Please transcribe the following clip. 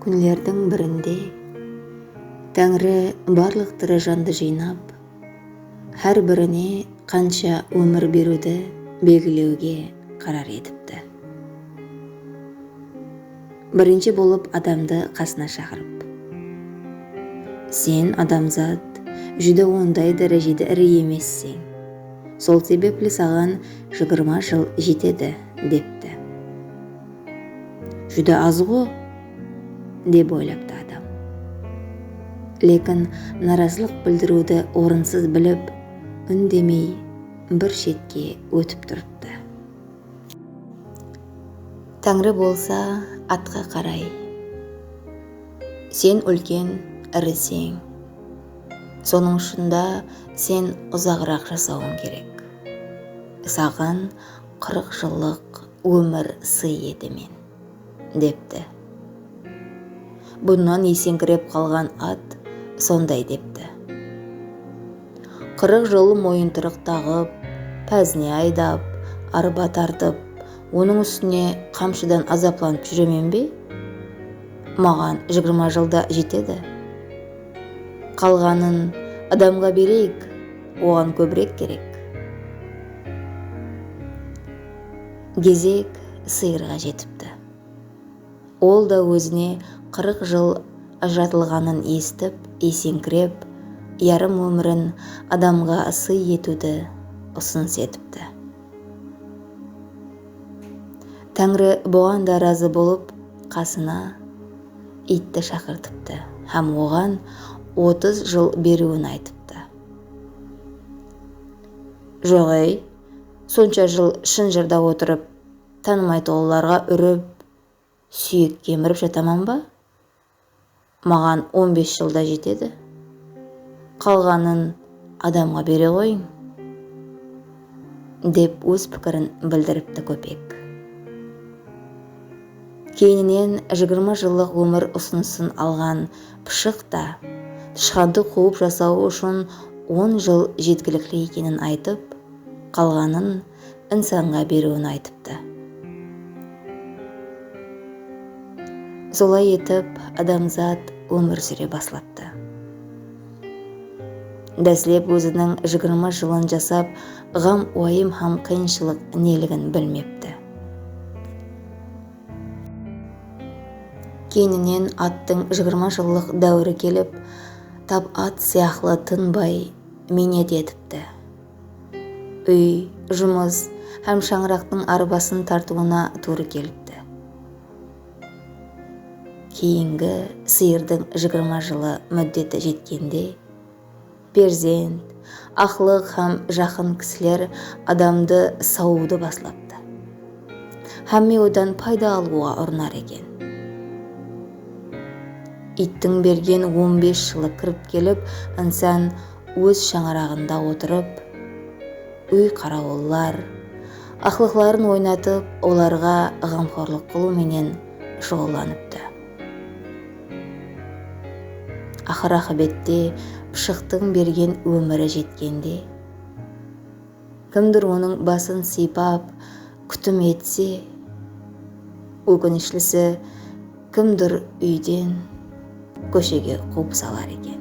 Kúnlerdiń birinde Táńri barlıq tiri jandı jıynap, hár birine qansha ómir beriwdi belgilewge qarar etipti. Birinshi bolıp adamdı qasına shaqırıp. Sen, adamzat, júdá onday dárejede iri emesseń. Sol sebepli saǵan jigirma jıl jetedi, depti. Júdá azǵo, dep oylaptı adam. Lekin narazılıq bildiriwdi orınsız bilip, úndemey bir shetke ótip turıptı. Táńri bolsa atqa qaray Sen úlken iriseń Sonıń ushında sen uzaǵıraq jasawıń kerek Saǵan qırıq jıllıq ómir sıy eti men. depti. Bunnan eseńkirep qalǵan at sonday depti. Qırıq jıl moyıntırıq taǵıp, pázine aydap, arba tartıp, onıń ústine qamshıdan azaplanıp júremen be? Maǵan jıgırma jıl da jetedi. Qalǵanın adamǵa bereyik, oǵan kóbirek kerek. Gezek sıyırǵa jetipti. Ol da ózine qırıq jıl ajıratılǵanın esitip eseńkirep, yarım ómirin adamǵa sıy etiwdi usınıs etipti. Táńri buǵan da razı bolıp, qasına iytti shaqırtıptı hám oǵan otız jıl beriwin aytıptı. Joǵ-ey! Sonsha jıl shın jırda otırıp, tanımaytuǵınlarǵa úrip, súyek kemirip jataman ba? Maǵan on bes jıl da jetedi. Qalǵanın adamǵa bere ǵoyıń, dep óz pikirin bildiripti Kópek. Keyninen jigirma jıllıq ómir usınısın alǵan Pıshıq ta, tıshqandı quwıp jasawı ushın on jıl jetkilikli ekenin aytıp, qalǵanın insanǵa beriwin aytıptı. Solay etip adamzat ómir súre baslaptı. Dáslep óziniń jigirma jılın jasap, ǵam-uwayım hám qıyınshılıq neligin bilmepti. Keyninen attıń jigirma jıllıq dáwiri kelip, tap at sıyaqlı tınbay miynet etipti. Úy, jumıs hám shańaraqtıń arbasın tartıwına tuwrı kelipti. Keyingi sıyırdıń jigirma jılı múddeti jetkende. Perzent, aqlıq hám jaqın kisiler adamdı sawıwdı baslaptı. Hámme odan payda alıwǵa urınar eken. Iyttiń bergen on bes jılı kirip kelip, insan óz shańaraǵında otırıp, úy qarawıllar, aqlıqların oynatıp, olarǵa ǵamxorlıq qılıw menen shuǵıllanıptı. Aqır aqıbette pıshıqtıń bergen ómiri jetkende, kimdur onıń basın sıypap kútim etse, ókinishlisi kimdur úyden kóshege quwıp salar eken.